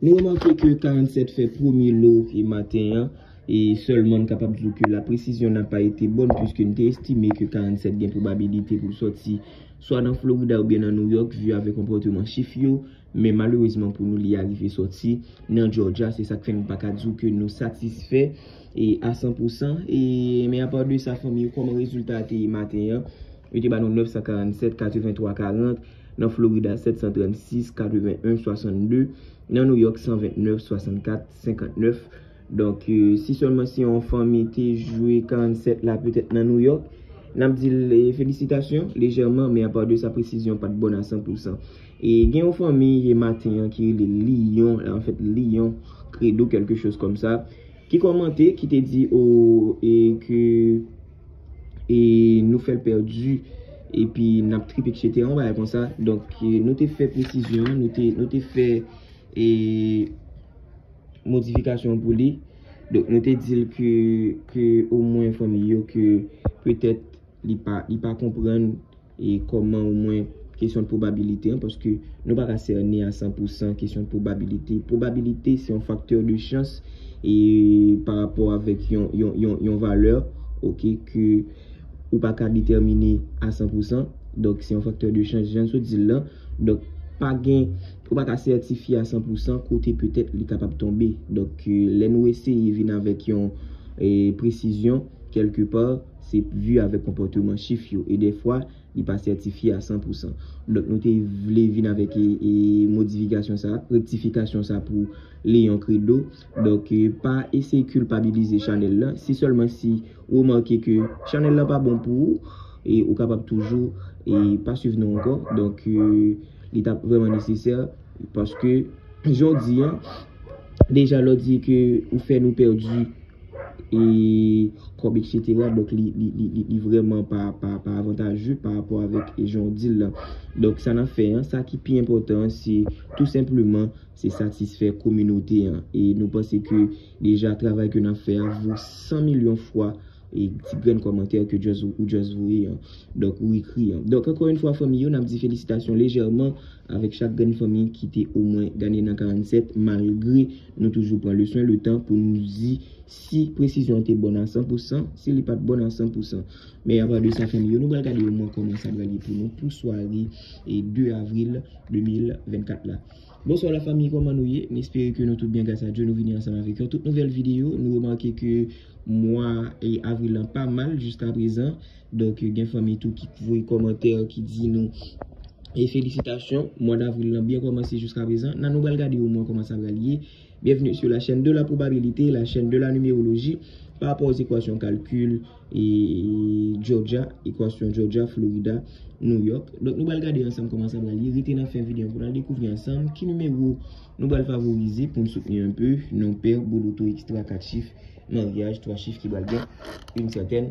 Nou remake ke 47 fè premye lo e maten an, e sèlman n kapab di w ke la presizyon n a pa ete bòn puiske n te estime ke 47 gen pwobabilite pou l sòti swa nan Florida oubyen nan New York vi avèk konpòteman chif yo, men malerezman pou nou li arive sòti nan Georgia, se sa k fè n pa ka di w ke nou satisfè a 100 pou 100. E men a pa de sa fanmi yo kòman rezilta a te ye maten an, yo te ba nou 947, 83, 40. Nan Florida, 736, 81, 62, Nan New York, 129, 64, 59, Donk, si sèlman si yon fanmi te jwe 47 la petèt nan New York, n ap di l felisitasyon, lejèman, men apa de sa presizyon pa t bon a 100 pou 100. E gen yon fanmi ye maten an ki rele Liyon, anfèt Liyon, Kredo, kèlke choz kòm sa, ki kòmante, ki te di, o, e ke. e nou fèl pèdi epi nap trip etc yon bagay konsa donk nou te fè presizyon nou te fè e modifikasyon pou li donk nou te dil ke o mwen fanmi yo ke petèt li pa konprann E kòman ou mwen kesyon pwobabilite an, paske nou pa ka sènen a 100 pou 100 kesyon pwobabilite. Pwobabilite se yon faktè de chans e pa rapò avèk yon valè ok ke ou pa ka detèmine a 100 pou 100. Donk se yon faktè de chans jan sou di lan. Donk pa gen, ou pa ka sètifye a 100 pou 100 kote petèt li kapab tonbe. Donk lè nou eseye vin avèk yon presizyon kelke pa. Se vu avèk konpòteman chif yo e dèfwa li pa sètifye a 100 pou 100. Donk nou te vle vin avèk modifikasyon sa, rektifikasyon sa pou Leon Credo. Donk pa eseye kilpabilize chanèl la, si sèlman si ou remake ke chanèl la pa bon pou ou, e ou kapab toujou e pa swiv nou ankò. Donk li tap vreman nesesè paske jan w di an, deja lè w di ke ou fè nou pèdi. e kòb etc donk li vrèman pa avantajè pa rapò avèk jan ou dil la donk sa nap fè an sa ki pi enpòtan an se tou senpleman se satisfè kominote an e nou panse ke deja travay ke nap fè a vo 100 milyon fwa e ti grenn kòmantè ke just ou just voye an donk ou ekri an donk ankò yon fwa fanmi yo nap di felisitasyon lejèman avèk chak grenn fanmi ki te omwen gade nan 47 malgre Nou toujou pran le swen, le tan pou nou di si presizyon an te bon a 100 pou 100, si li pat bon a 100 pou 100. Men apa de sa fanmi yo, nou pral gade yo mwen kòman sa pral ye pou nou pou sware 2 avril 2024 la. Bonswa la fanmi kòman nou ye? M espere ke nou tout byen gras a Dye, nou vini ansanm avèk yon tout nouvèl videyo. Nou remake ke mwa avril lan pa mal jiska prezan. Donk gen fanmi tou ki k voye kòmantè ki di nou e felisitasyon mwa davril lan byen kòmanse jiska prezan nan nou bal gade yon mwa kòman sa bal ye byenvni su la chèn de la pwobabilite la chèn de la nimeroloji pa rapò o zekwasyon kalkil e jòja ekwasyon jòja florida nou yòk donk nou bal gade ansanm kòman sa bal ye rete nan fen videyo pou nan dekouvri ansanm ki nimewo nou bal favorize poun soutni anpe non pè boloto ekstra 4 chif maryaj 3 chif ki bal gen yn sètèn.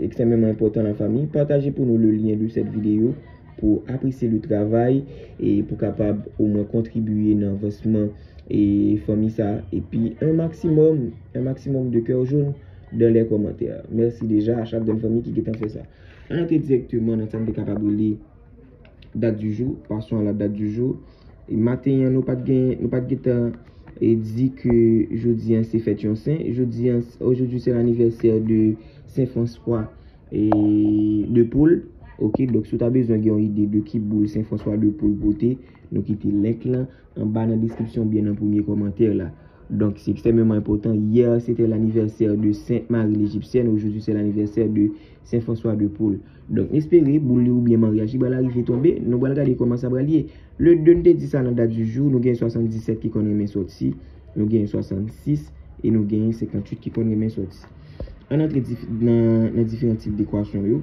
Extremement important la famille partage pou nou le lien de cette vidéo pou apresye le travay e pou kapab o mwen kontribiye nan avansman e fanmi sa epi un maximum un maximum de coeur jaune dans les commentaires merci deja a chak grenn fanmi ki gentan fè sa an antre directement nan sa nou te kapab rele date du jour, passons à la date du jour. E maten an nou pat gen, nou pat gen tan e di ke jodi an se fèt yon sen. Jodi an, aujourd'hui c'est l'anniversaire de Saint François de Paul. Ok, donk si w ta bezwen gen yon ide de ki boul Saint François de Paul pote, nou kite link lan. Anba nan deskripsyon oubyen nan premye kòmantè la. Donk se ekstrèmeman enpòtan. Hier c'était l'anniversaire de Sainte Marie l'Egyptienne, aujourd'hui c'est l'anniversaire de Saint François de Paule. Donk m espere boul li oubyen maryaj li pral arive tonbe, nou pral gade kòman sa pral ye. Le 2 n te di sa nan dat du jour, nou gen 77 ki konn renmen sòti, nou gen 66 e nou gen 58 ki konn renmen sòti. Ann antre nan diferan tip dekwasyon yo.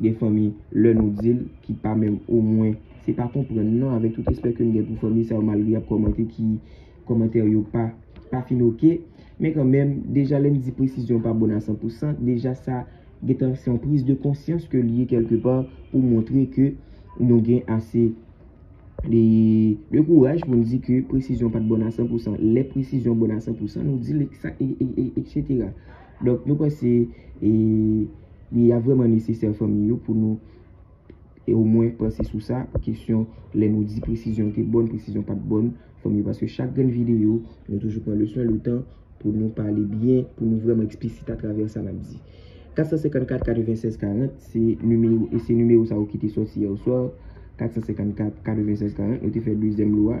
Gen fanmi lè nou dil ki pa menm ou mwen se pa konprann non avèk tout respè kem gen pou fanmi sa yo malgre yap kòmante ki kòmantè yo pa pa fin ok men kan menm deja lèm di presizyon pa bon a san pou san deja sa gentan se yon priz de konsyans ke li ye kelke pa pou montre ke nou gen ase de kouraj pou nou di ke presizyon pat bon a san pou san lè presizyon bon a san pou san nou dil e eksetera. Donk nou panse e li ap vreman nesesè fanmi yo pou nou e o mwen panse sou sa pou kesyon lè nou di presizyon te bon, presizyon pat bon fanmi yo paske chak grenn videyo nou toujou pran leswen letan pou nou pale byen pou nou vreman eksplisit atravè sa nap di. 454 96 40 se nimewo e se nimewo sa yo ki te soti yè oswa 454 96 40 nou te fè dezyèm lwa.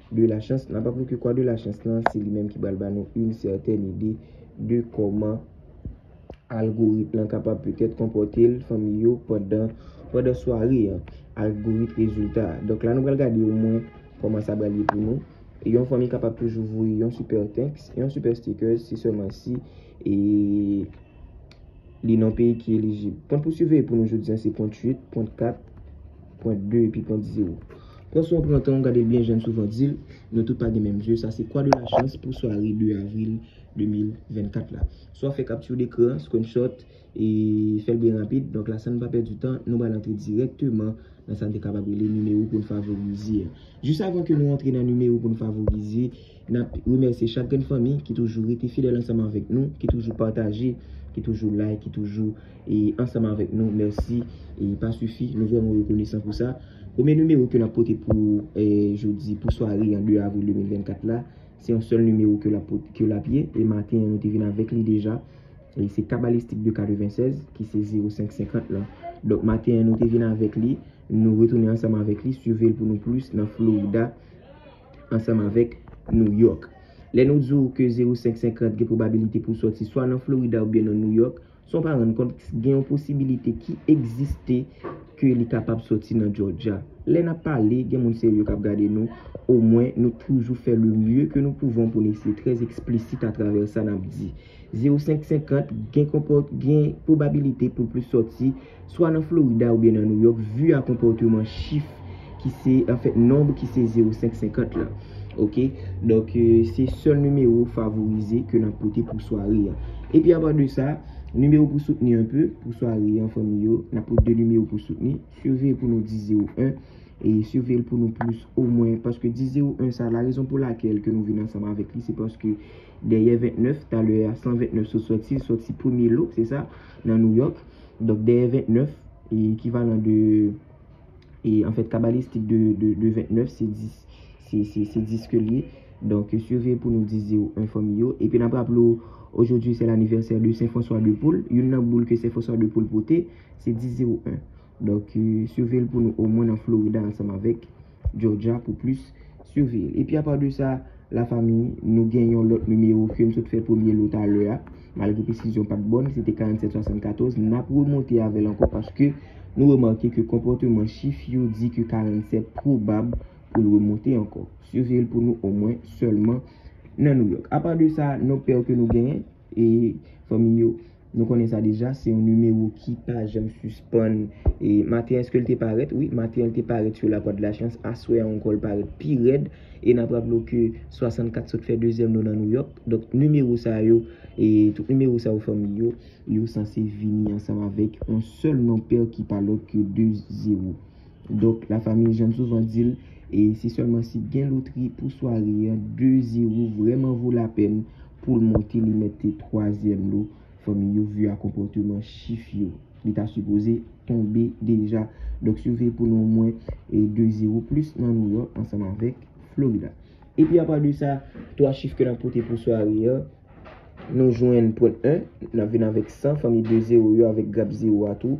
de la chans. Nan pa pwouke kwa de la chans lan, se li menm ki bal ba nou yn sètèn ide de kòman algorit lan kapab petèt konpòte l fanmi yo pandan pandan sware an. Algorit rezilta. Donk la nou pral gade o mwen kòman sa pral ye pou nou. Yon fanmi kapab toujou voye yon super thanks, yon super stickers si sèlman si e li nan peyi ki elijib. Pwen pou siveye pou nou jodi an se pwen 8, pwen 4. Pwent 2 epi pwent 0. Pran swen w pran tan w gade l byen jan n souvan di l, nou tout pa gen menm zye, sa se kwa de la chans pou sware 2 avril 2024 la. Swa fè kapti dekran, screenshot, e fè l byen rapid, donk la san n pa pèdi tan, nou pral antre dirèkteman nan sa n te kapab rele nimewo pou n favorize a. Jis avan ke nou antre nan nimewo pou n favorize, Nap remèsye chak grenn fanmi ki toujou rete fidèl ansanm avèk nou, ki toujou pataje, ki toujou like, ki toujou ansanm avèk nou. Mèsi e pa sifi. Nou vrèman rekonesan pou sa. Premye nimewo ke nap pote pou jodi, pou sware an 2 avril 2024 la, se yon sèl nimewo ke lap ye. E maten an nou te vin avèk li deja. E se Kabalistik de 96 ki se 0550 lan. Donk maten an nou te vin avèk li. Nou retounen ansanm avèk li. Swive l pou nou plis nan Florida. ansanm avèk New York. Lè nou di w ke 0,550 gen pwobabilite pou sòti swa nan Florida oubyen nan New York, san w pa rann kont gen yon posibilite ki egziste ke li kapab sòti nan Georgia. Lè nap pale, gen moun serye kap gade nou, omwen nou toujou fè le mye ke nou pouvon pou n eseye trè eksplisit atravè sa nap di. 05 50, gen konpòt, gen pwobabilite pou plis sòti, swa nan Florida oubyen nan Nouyòk, vu a konpòteman chif ki se, anfèt nonb ki se 05 50 lan. Ok, donk se sèl nimewo favorize ke nap pote pou sware an. Epi apa de sa, nimewo pou soutni an pe, pou sware an fanmi yo, nap pote 2 nimewo pou soutni, siveye pou nou 10 0 1, e siveye l pou nou plis omwen, paske 10 0 1 sa, la rezon pou lakel ke nou vin ansanm avèk li, se paske. Dèyè 29, talè a 129 sou sòti, sòti premye lo, se sa, nan Nouyòk. Donk dèyè 29, e ekivalan de, e an fèt kabalistik de 29 se 10. Se 10 ke l ye. Donk siveye pou nou 10 zewo 1 fanmi yo. Epi n ap raple w, ojodwi se lanivèsè de Sen Franswa de Poul. Youn nan boul ke Sen Franswa de Poul pote, se 10 zewo 1. Donk, siveye l pou nou omwen nan Florida ansanm avèk Georgia pou plis siveye l. Epi apa de sa, lafanmi, nou gen yon lòt nimewo ke m sot fè premye lo talè a, malgre presizyon pa t bon, se te 4774, n ap remonte avè l ankò paske nou remake ke konpòteman chif yo di ke 47 pwobab pou l remonte ankò. Siveye l pou nou omwen sèlman nan Nouyòk. Apa de sa, nòt pèw ke nou genyen. E fanmi yo Nou konnen sa deja se yon nimewo ki pa janm sispann e maten eske l te parèt wi maten l te parèt sou lapwa de la chans aswè a ankò l parèt pi rèd e n ap raple w ke 64 sot fè dezyèm nou nan Nouyòk donk nimewo sa yo e tout nimewo sa yo fanmi yo yo sanse vini ansanm avèk yon sèl nonpè ki pa lòt ke 2 zewo. Donk la famille janm souvan dil e se sèlman si gen lotri pou sware an 2 zero vrèman vo lapèn poul monte li mete 3 zyèm lo fanmi yo vu a konpòteman chif yo li ta sipoze tonbe deja donk siveye pou nou omwen 2 zero plis nan New York ansanm avèk Florida epi apa de sa 3 chif ke nap pote pou sware an nou jwenn pwen 1 nap vin avèk 100 fanmi 2 zero yo avèk grap zero a tou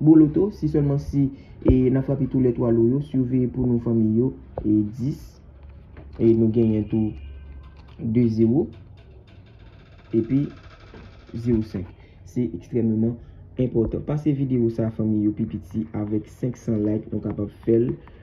Boloto, si sèlman si e nan frape tou lè 3 lo yo, surveye pou nou fanmi yo e 10 e nou genyen tou 2 zero epi zero 5 se ekstrèmeman enpòtan pase video sa fanmi yo pi piti avèk 500 like nou kapab fèl.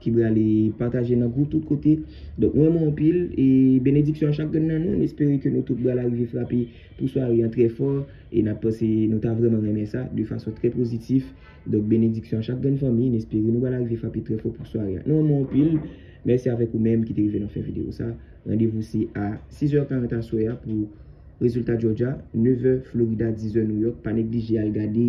Ki brale pataje nan group tout kote. Donk mwen renmen w anpil e benediksyon a chak grenn nan nou. M espere ke nou tout bral arive frape pou sware an trè fò e nap panse nou ta vreman renmen sa de fason trè pozitif. Donk benediksyon a chak grenn fanmi. M espere nou bral arive frape trè fò pou sware an. Nou renmen w anpil. Mèsi avèk ou menm ki te rive nan fen video sa. Randevou se a 6 zè 40 aswè a pou rezilta Georgia, 9 è Florida, 10 è New York. Pa neglije al gade.